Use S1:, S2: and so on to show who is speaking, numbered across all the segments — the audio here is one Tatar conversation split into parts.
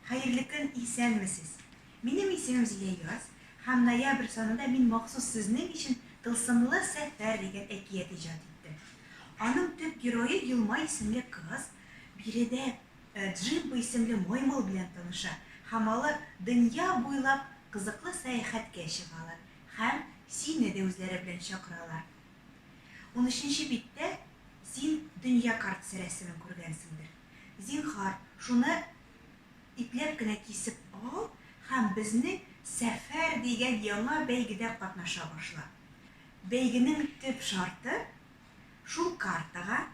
S1: Хәерле көн, исәнмесез. Минем исемем Зилә Яз, һәм ноябрь санында мин махсус сезнең өчен Тылсымлы сәфәр дигән әкият иҗат иттем. Аның төп герое Елма исемле кыз, биредә Ә Джимбо исемле маймыл белән таныша һәм алар дөнья буйлап кызыклы сәяхәткә чыгалар һәм сине дә үзләре белән чакыралар. Унөченче биттә син дөнья картасы рәсемен күргәнсеңдер. Зинһар, шуны ипләп кенә кисеп ал һәм безнең Сәфәр дигән яңа бәйгедә катнаша башла. Бәйгенең төп шарты, шул картага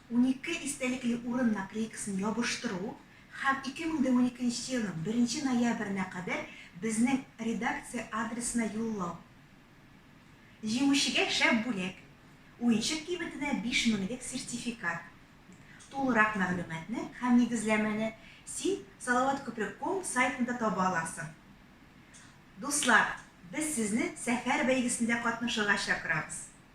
S1: Унике истәлекле урын наклейкасын ябыштыру һәм 2012 нче елның беренче ноябренә кадәр безнең редакция адресына юллау. Җиңүчегә шәп бүләк, уенчык кыйммәтенә биш меңлек сертификат. Тулырак мәгълүматны һәм нигезләмәне син Салаваткүпер ком сайтында таба аласың. Дуслар, без сезне Сәфәр бәйгесендә катнашырга чакырабыз!